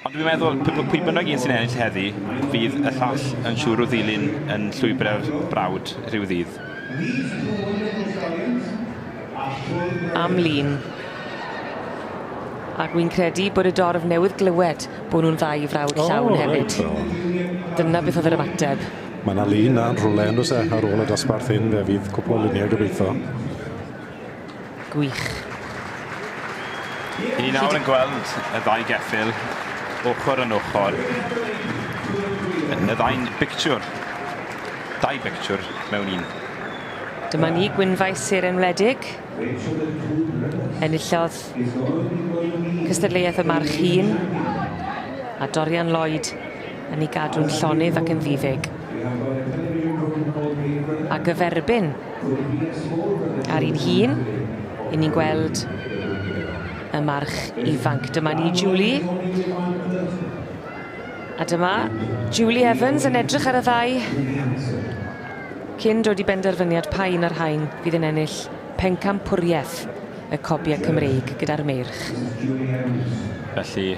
Ond dwi'n meddwl, pwy bynnag un sy'n ennill heddi, fydd y llall yn siŵr o ddilyn yn llwybr ar brawd rhyw ddydd. Am lun. Ac wy'n credu bod y dorf newydd glywed bod nhw'n ddau frawd llawn hefyd. Dyna beth oedd yr ymateb. Mae 'na lun 'na yn rhwle on'd o's e ar ôl y dosbarth hyn fe fydd cwpwl o lunie gobeitho. Gwych. Ni nawr yn gweld y ddau geffyl ochr yn ochr. Y ddau'n bictiwr. Dau bictiwr mewn un. Dyma ni, Gwynfaes Sir Enwledig. Enillodd cystadleuaeth y March Hun a Dorian Lloyd yn ei gadw'n llonydd ac yn ddi-feg. A gyferbyn ar un hun, i ni'n gweld y march ifanc. Dyma ni Julie. A dyma Julie Evans yn edrych ar y ddau cyn dod i benderfyniad pa un o'r rhain fydd yn ennill pencampwriaeth y cobiau Cymreig gyda'r meirch. Felly,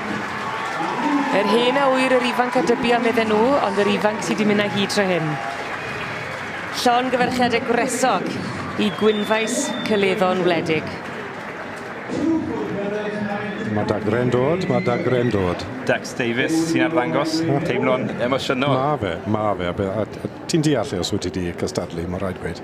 Yr hen awyr, yr ifanc a dybu am iddyn nhw, ond yr ifanc sydd wedi mynd â hi tro hyn. Llon gyferchiad y gwresog i Gwynfaes Cyleddo'n wledig. Mae dagre'n dod, mae dagre'n dod. Dax Davies sy'n arddangos, teimlo'n emosiynol. Mae fe, mae fe. A, be, a, a ti'n deall os wyt ti wedi cystadlu, mae'n rhaid gweud.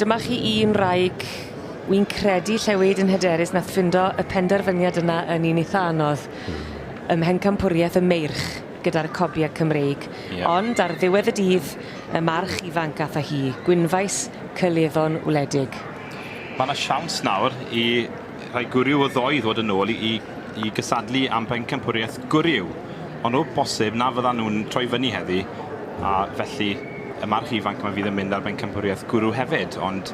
Dyma chi un wraig wi'n credu lle wed yn hyderus nath ffindo y penderfyniad yna yn un eitha anodd. Hmm. Ym mhencampwriaeth y Meirch gyda'r Cobiau Cymreig. Ie. Ond ar ddiwedd y dydd y march ifanc ath â hi, Gwynfaes Cyleddo'n wledig. Ma' 'na siawns nawr i rhai gwryw o ddoe i ddod yn ôl i i gysadlu am bencampwriaeth gwryw, ond o bosib na fyddan nhw'n troi fyny heddi, a felly y march ifanc yma fydd yn mynd ar bencampwriaeth gwrw hefyd, ond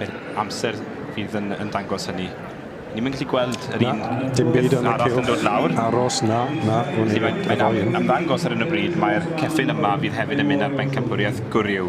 yr amser fydd yn yn dangos hynny. Ni'm yn gallu gweld yr un peth arall yn dod lawr. Aros, na, na, wn i. Mae'n ymddangos ar hyn o bryd mai'r ceffyl yma fydd hefyd yn mynd ar bencampwriaeth gwryw.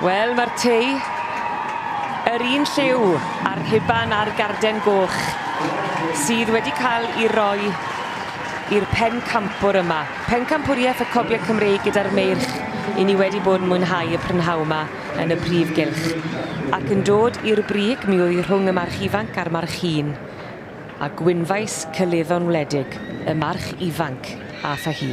Wel, mae'r Tŷ yr un lliw a'r rhuban a'r garden goch sydd wedi cael ei roi i'r pencampwr yma. Pencampwriaeth y Coble Cymreig gyda'r Meirch i ni wedi bod yn mwynhau y prynhawn yma yn y Prif Gylch. Ac yn dod i'r brig mi oedd rhwng y March Ifanc a'r March Hŷn, a gwynfais cyleddo'n wledig y March Ifanc aeth â hi.